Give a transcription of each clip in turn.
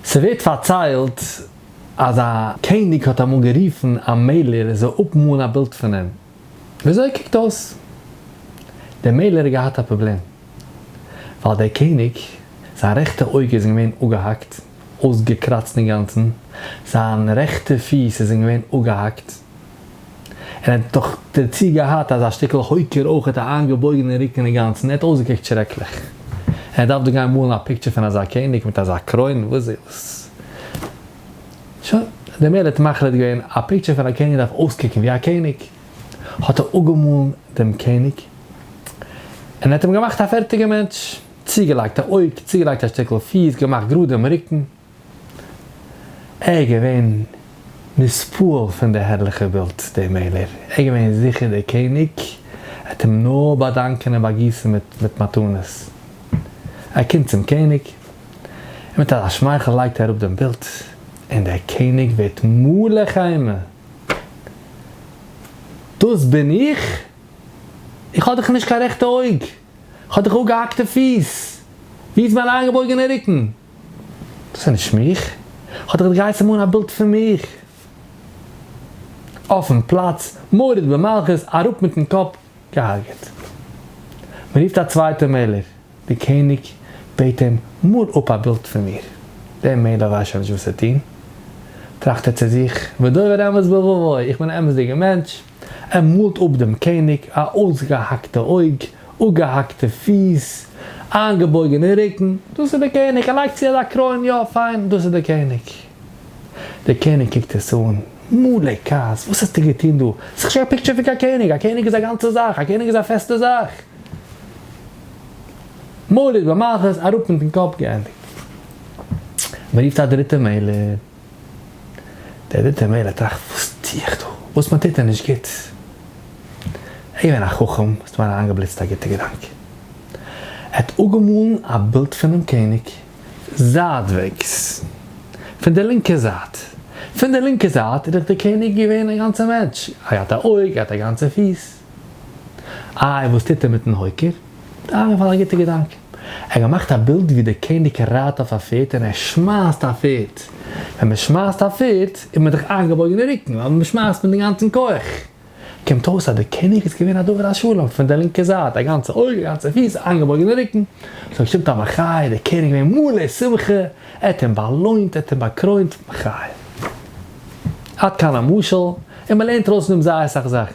ס'ווערט פארציילט אז א קעניג האט אמאל גערופן א מעלער ער זאל אפמאלן א בילד פון אים וויאזוי ער קוקט אויס. דער מעלער האט געהאט א פראבלעם ווייל דער קעניג זיין רעכטע אויג איז אים געווען אפגעהאקט, אויסגעקראצט אינגאנצן, זיין רעכטע פיס איז אים געווען אפגעהאקט, ער האט דאך דערצו געהאט אזא שטיקל הויקער אויך, ער האט א איינגעבויגענע רוקן אינגאנצן, ער האט אויסגעקוקט שרעקליך. ער האט דארפט דא גיין מאלן א פיקטשער פון אזא קעניג מיט אזא קרוין, וואס איז דאס? שוין, דער מערער האט מחליט געווען, א פיקטשער פון א קעניג דארף אויסקוקן ווי א קעניג. האט ער אפגעמאלן דעם קעניג, און ער האט אים געמאכט א פערטיגע מענטש. צוגעלייגט א אויג, צוגעלייגט א שטיקל פיס, געמאכט גראד דעם רוקן. ער איז געווען נספּועל פֿון די הערלעכע ווילד די מעלער. ער איז געווען זיכער דער קעניג וועט אים נאָר באַדאַנקען און באַגיסן מיט מיט מתּנות. ער קומט צום קעניג און מיט אַזאַ שמייכל לייגט ער אָראָפּ דעם ווילד און דער קעניג ווערט מלא חמה. דאָס בין איך? איך האָב דאָך נישט קיין רעכטע אויג. איך האָב דאָך אָפּגעהאַקטע פֿיס. וווּ איז מײַן אײַנגעבויגענער רוקן? דאס איז נישט מיך, האט ער געהייסן מאלן א בילד פון מיך אויפן פלאץ, מורד במלכות, אראפ מיטן קאפ, געהארגעט. מען רופט א צווייטער מעלער, דער קעניג בעט אים, מאל אפ א בילד פון מיר. דער מעלער ווייסט שוין נישט וואס צו טון, טראכט ער צו זיך, ודובר אמת בלבבו, איך בין א אמת'דיגער מענטש, ער מאָלט אָפּ דעם קעניג, אַ אויסגעהאַקטע אויג, אָפּגעהאַקטע פיס, איינגעבויגענע רוקן, דאָס איז דער קעניג! ער לייגט צו אַזאַ קרוין, יאָ, פיין, דאָס איז דער קעניג! דער קעניג קוקט עס אָן, מלא כעס, וואָס האָסטו געטאָן דאָ? ס'איז נישט קיין פּיקטשער פון קיין קעניג! אַ קעניג איז אַ גאַנצע זאַך! אַ קעניג איז אַ פעסטע זאַך! מוליד במחוז, אַראָפּ מיטן קאָפּ! געענדיגט! מ'רופט אַ דריטע מעלער. דער דריטער מענער טראכט וואס טו איך דא? וואס מיין טאטע נישט גוט? ער איז געווען א חכם, ס'האט אים אריינגעבליצט א גוטע געדאנק. ער האט אפגעמאלן א בילד פונעם קעניג זייטוועגס, פון דער לינקער זייט. פון דער לינקער זייט איז דאך דער קעניג געווען א גאנצער מענטש, ער האט געהאט א אויג, ער האט א גאנצע פיס. איי, וואס טוט ער מיטן הויקער? דארף מען פאר א גוטע געדאנק. ער האט געמאכט א בילד ווי דער קעניג רייט אויף א פערד און ער שמייסט א פערד. ווען מען שמייסט א פערד איז מען דאך איינגעבויגן אין רוקן ווייל מען שמייסט מיט דעם גאנצן כח. קומט אויס אז דער קעניג איז געווען א דובר השלום פון דער לינקער זייט, א גאנצע אויג, א גאנצע פיס, איינגעבויגן אין רוקן. סאו שטימט אז מחי' דער קעניג איז געווען מלא שמחה, ער האט אים באלוינט, ער האט אים באקרוינט, מחי'. עד כאן המשל, און מען לערנט ארויס פון דעם זייער אסאך זאכן.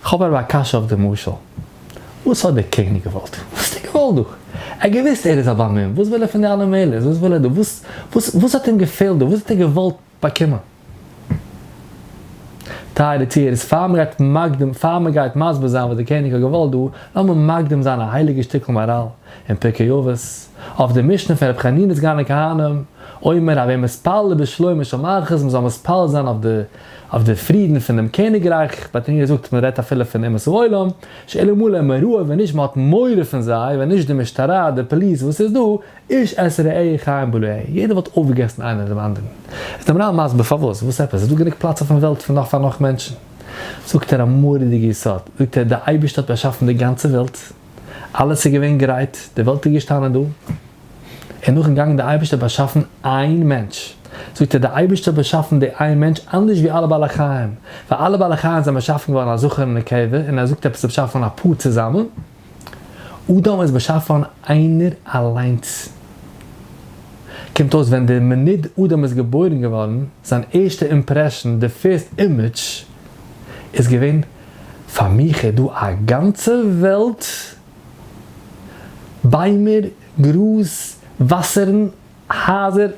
כ'האב אבער א קשיא אויף די משל. וואס האט דער קעניג געוואלט? וואס האט ער געוואלט דא? ער האט געוואוסט ער איז א באמין, וואס וויל ער פון די אלע מעלות? וואס וויל ער דא? וואס וואס וואס האט אים געפעלט דא? וואס האט ער געוואלט באקומען? טייערע צוהערערס, פאר מען גייט מקדים, פאר מען גייט מסביר זיין וואס דער קעניג האט געוואלט דא, לאמיר מקדים זיין א הייליגע שטיקל מאראל אין פרקי אבות, אויף די משנה פון רבי חנינא סגן הכהנים, אומר, הווי מתפלל בשלומה של מלכות, מען זאל מתפלל זיין אויף די. אויף די פרידן פונעם קעניגרייך, מען האט אים געזאגט מען רעדט אפילו פון אומות העולם, שאלה מלא מראה ווען נישט מען האט מורא פון זיי, ווען נישט די משטרה, די פאליס וואס איז דא, איש את רעהו חיים בלעו, יעדער וואלט אויפגעגעסן איינער דעם אנדערן. איז דעם רב מסביר פארוואס, וואס עפעס, איז דא גענוג פלאץ אויפן וועלט פון נאך פאר נאך מענטשן. זאגט ער א מורא'דיגע יסוד, זאגט ער די אייבערשטער האט באשאפן די גאנצע וועלט, אלעס איז געווען גרייט, די וועלט איז געשטאנען דא, און נאכן גאנגען די אייבערשטער באשאפן איין מענטש, זאגט ער די אייבערשטער האט באשאפן די איין מענטש אנדערש ווי אלע בעלי חיים, ווייל אלע בעלי חיים זענען באשאפן געווארן א זכר און נקבה, און ער זאגט עפעס איז באשאפן א פאר צוזאמען, אדם איז באשאפן איינער אליינס. קומט אויס ווען די מינוט אדם איז געבוירן געווארן, זיין ערשטע אימפרעשן, די פירסט אימעדזש, איז געווען, פאר מיך איז דא א גאנצע וועלט, ביימער, גראז, וואסערן, הייזער,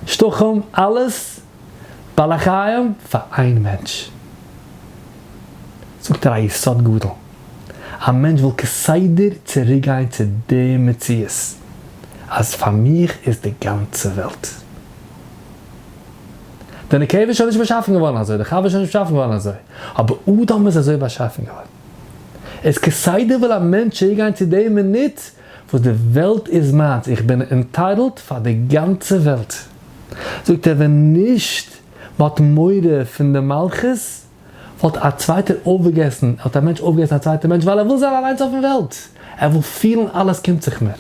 שטחים, אלעס בעלי חיים פאר איין מענטש. זאגט ער א יסוד גדול. א מענטש וויל כסדר צוריקגיין צו די מציאות אז פאר מיך איז די גאנצע וועלט. די נקבה איז שוין נישט באשאפן געווארן אזוי, די חווה איז שוין נישט באשאפן געווארן אזוי, אבער אדם איז אזוי באשאפן געווארן. איז כסדר וויל א מענטש צוריקגיין צו די מינוט וואס די וועלט איז מיינס, איך בין ענטייטלט פאר די גאנצע וועלט. זאגט ער ווען נישט מ'האט מורא פון די מלכות וואלט א צווייטער אויפגעגעסן, וואלט א מענטש אויפגעגעסן א צווייטער מענטש ווייל ער וויל זיין אליינס אויפן וועלט, ער וויל פילן אלעס קומט זיך מיר.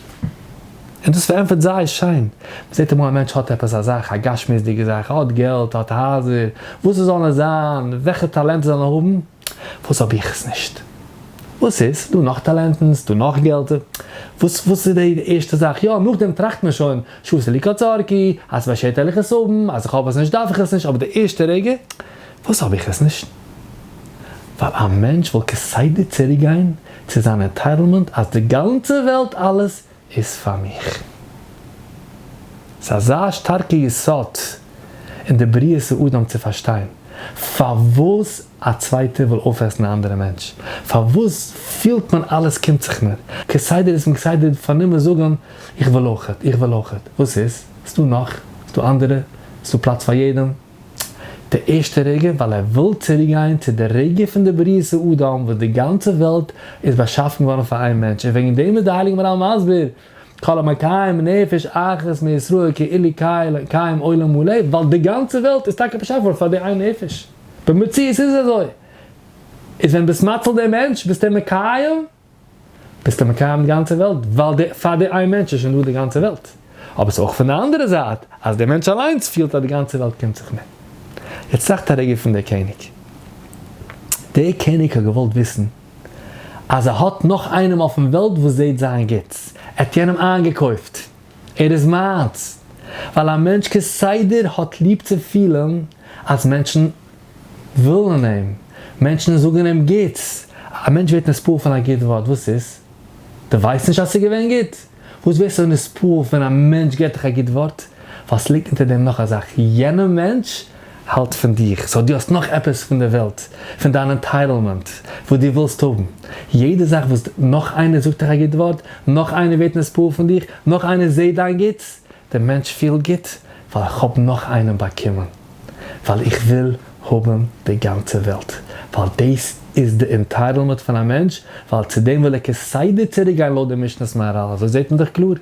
און דאס פארענטפערט זייער שיין. מ'זעט אמאל א מענטש האט עפעס א זאך, א גשמיות'דיגע זאך, ער האט געלט, ער האט הייזער, וואס עס זאל נאר זיין, וועלכע טאלענט ער זאל נאר האבן, וואס האב איך עס נישט? וואס איז? ס'דא נאך טאלענטן, ס'דא נאך געלט. וואס וואס איז די ערשטע זאך? יא, נאכדעם טראכט מען שוין, שעשה לי קצר כי, אז ס'באשערט ערליכע סבים, אז איך האב עס נישט דארף איך עס נישט, אבער די ערשטע רגע, וואס האב איך עס נישט? ווייל א מענטש וואלט כסדר צוריקגיין צו זיין ענטייטלמענט אז די גאנצע וועלט אלעס איז פאר מיך. ס'איז אזא שטארקע יסוד אין די בריאת האדם צו פארשטיין פארוואס א צווייטער וויל אויפעסן א אנדערע מענטש, פארוואס פילט מען אלעס קומט זיך מיר, כסדר איז מען כסדר פארנומען זאגן איך וויל אויכעט, איך וויל אויכעט, וואס איז? ס'דא נאך, ס'דא אנדערע, ס'דא פלאץ פאר יעדעם. די ערשטע רגע ווייל ער וויל צוריקגיין צו די רגע פון די בריאת האדם וואס די גאנצע וועלט איז באשאפן געווארן פאר איין מענטש און וועגן דעם איז די הייליגע מהרל מסביר כל המקיים נפש אחת מישראל כאילו קיים עולם מלא ווייל די גאנצע וועלט איז טאקע באשאפן געווארן פאר די איין נפש במציאות איז עס אזוי איז ווען ביסט מציל דעם מענטש ביסטו אים מקיים ביסטו מקיים די גאנצע וועלט, ווייל די פאר די איין מענטש איז שוין דא די גאנצע וועלט, אבער ס'איז אויך פון די אנדערע זייט אז די מענטש אליינס פילט אז די גאנצע וועלט קומט זיך מיר. יעצט טראכט א רגע פון די קעניג. די קעניג האט געוואלט וויסן אז ער האט נאך איינעם אויפן וועלט וואס זעהט זיין גוטס, ער האט יענעם איינגעקויפט, ער איז מיינס, ווייל א מענטש כסדר האט ליב צו פילן אז מענטשן. ווילן אים, מענטשן זאגן אים גוטס, א מענטש ווערט נספּעל פון א גוט ווארט, וואס איז? דו ווייסט נישט אז ס'איז געווען גוט? וואס ווערסטו נספּעל ווען א מענטש געבט דיך א גוט ווארט? ווייל ס'ליגט אונטער דעם נאך א זאך, יענער מענטש האלט פון דיך, סאו דו האסט נאך עפעס פון דער וועלט, פון דיין ענטייטלמענט, וואס דו ווילסט האבן. יעדע זאך וואס נאך איינער זאגט דיך א גוט ווארט, נאך איינער ווערט נספּעל פון דיך, נאך איינער זעט דיין גוטס, דער מענטש פיל גוט ווייל איך האב נאך איינעם באקומען, ווייל איך וויל האבן די גאנצע וועלט, ווייל דאס איז די אינטייטלמעט פון א מענטש, ווייל צו דעם וויל ער כסדר צוריק גיין לויט די משנת מהרל, אזוי זעט מען דאך קלאר.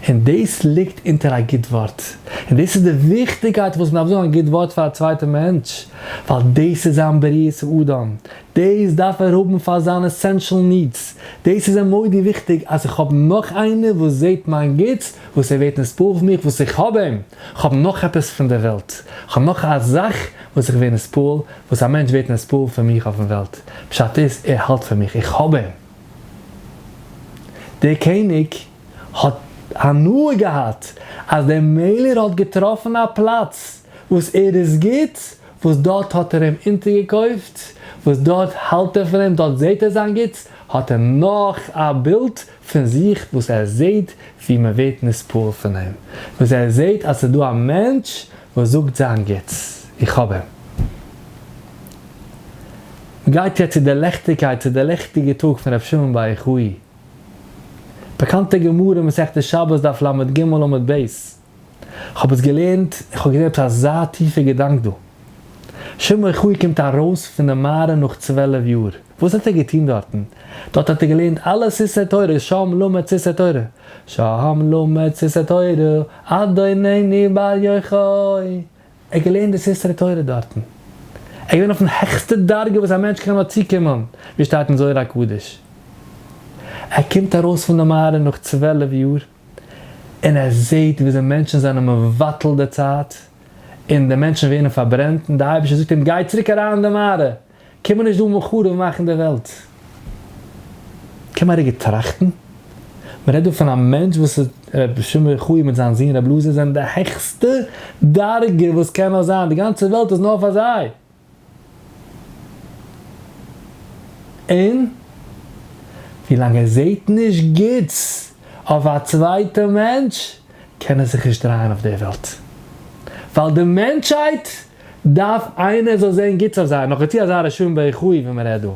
און דאס ליגט אונטער א גוט ווארט, און דאס איז די וויכטיגקייט וואס מען דארף זאגן א גוט ווארט פאר א צווייטע מענטש, ווייל דאס איז זיין בריאת האדם, דאס דארף ער האבן פאר זיינע עסענשעל נידס, דאס איז אים מודי וויכטיג אז איך האב נאך איינער וואס זעהט מיין גוטס, וואס ער ווערט נספו אויף מיך וואס איך האב אים, איך האב נאך עפעס פון דער וועלט, איך האב נאך א זאך וואס איך ווער נספעל, וואס א מענטש ווערט נספעל פון מיך אויפן וועלט, פשט איז ער האלט פון מיך, איך האב אים. דער קעניג האט הנאה געהאט אז דער מעלער האט געטראפן א פלאץ וואס ער איז גוט, וואס דארט האט ער אים אונטערגעקויפט, וואס דארט האלט ער פון אים, דארט זעהט ער זיין גוטס, האט ער נאך א בילד פון זיך וואס ער זעהט ווי מען ווערט נספּעל פון אים, וואס ער זעהט אז ס'דא א מענטש וואס זאגט זיין גוטס, איך האב אים. מ'גייט יעצט צו דער ליכטיגקייט, צו דער ליכטיגער טאג פון רבי שמעון בר יוחאי. באקאנטע גמרא, מסכת שבת, דף לג עמוד ב'. כ'האב עס געלערנט און כ'האב געזען עפעס אזא טיפע געדאנק דא. שמעון אוחיון קומט ארויס פון די מערה נאך צוועלף יאר, וואס האט ער געטון דארטן? דארט האט ער געלערנט אלע ספרי תורה, שם למד ספרי תורה, שם למד ספרי תורה, אדונני בעל יוחאי, ער האט געלערנט די ספרי תורה דארטן, ער איז געווען אויפן העכסטע דרגה וואס א מענטש קען נאר צוקומען, ווי עס שטייט אין זוהר הקדוש, ער קומט ארויס פון די מערה נאך צוועלף יאר, און ער זעט וויאזוי מענטשן זענען מבטל די צייט, און די מענטשן ווערן פארברענט, און די אייבערשטער זאגט אים, גיי צוריק אריין אין די מערה, קום נישט דא מיט חרוב מאכן די וועלט. קען מען רגע טראכטן, מען רעדט דא פון א מענטש וואס איז, ר' שמעון חיון מיט זיין זון ר' אלעזר זענען די העכסטע דרגה וואס קען נאר זיין, די גאנצע וועלט איז נאר פאר זיי, און ווי לאנג ער זעהט נישט גוטס אויף א צווייטע מענטש קען ער זיך נישט דרייען אויף דער וועלט, ווייל די מענטשהייט דארף איינער זאל זעהן גוטס אויף זיי, נאך דערצו אזא רשעים בעכו ווי מען רעדט דא.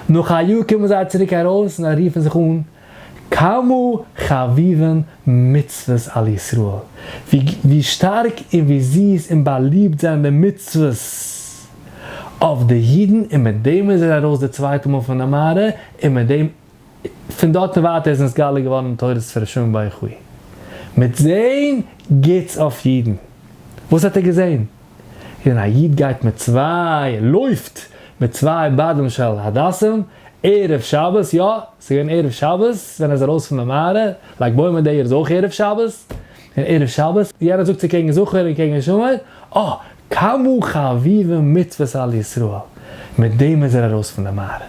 נאך א יאר קומען זיי צוריק ארויס און זיי רופן זיך אן כמה חביבים מצוות על ישראל, ווי שטארק און ווי זיס און באליבט זענען די מצוות אויף די אידן, און מיט דעם איז ער ארויס די צווייטע מאל פון די מערה, און מיט דעם פון דארט און ווייטער איז נתגלה געווארן תורת פרעשונג ביי חו מיט זעהן גוטס אויף אידן. וואס האט ער געזעהן? ווען א איד גייט מיט צוויי, לויפט מיט צוויי בדים של הדסים ערב שבת, יא, ס'איז געווען ערב שבת ווען ער איז ארויס פון די מערה, לג בעומר די יאר איז אויך ערב שבת, און ערב שבת, יענער זאגט צו קעגן זכור און קעגן שומר, אה, כמה חביבים מצוות על ישראל, מיט דעם איז ער ארויס פון די מערה.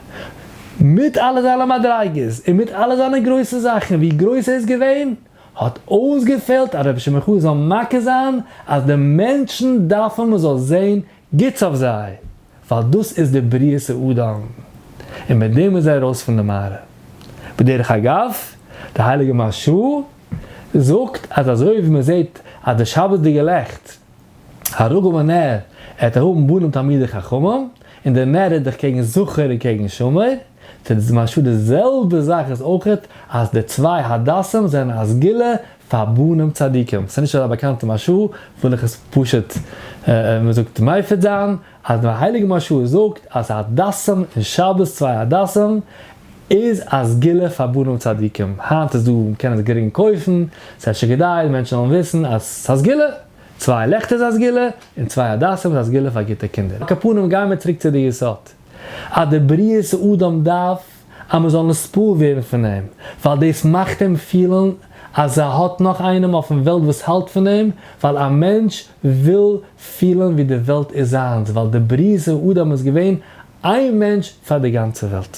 מיט אלע זיינע מדריגות און מיט אלע זיינע גרויסע זאכן ווי גרויס ער איז געווען, האט אויסגעפעלט אז רבי שמעון חא זאל מכה זיין אז די מענטשן דארפן מען זאל זען גוטס אויף זיי, ווייל דאס איז די בריאת האדם. און מיט דעם איז ער ארויס פון די מערה. בדרך אגב, די הייליגע מהרש א זאגט אז אזוי ווי מען זעט אז די שבת'דיגע לעכט הרוגום הנער, ער האט ערהאבן בנים תלמידי חכמים, און דער נער רעדט דאך קעגן זכר און קעגן שמור, טוט די משל די זעלבע זאך איז אויכעט אז די צוויי הדסים זענען א סגולה פאר בנים צדיקים, ס'איז נישט אזא באקאנטע משל, וויל איך עס פשוט, ווי מ'זאגט, מייפד זיין, אז דער הייליגער משהו איז זאגט אז הדסים און שבת צוויי הדסים איז א סגולה פאר בנים צדיקים, היינט איז דא מען קען עס גרינג קויפן, ס'איז אפשר כדאי מענטשן זאלן וויסן אז ס'איז א סגולה, צוויי לעכטער איז א סגולה, און צוויי הדסים איז א סגולה פאר גוטע קינדער, על כל פנים גייען מיר צוריק צו די יסוד, אז די בריאת האדם דארף געזאגט אז מען זאל נספור ווערן פון אים, ווייל דאס מאכט אים פילן אז ער האט נאך איינעם אויפן וועלט וואס האלט פון אים, ווייל א מענטש וויל פילן ווי די וועלט איז זיינס, ווייל די בריאה אדם איז געווען איין מענטש פאר די גאנצע וועלט.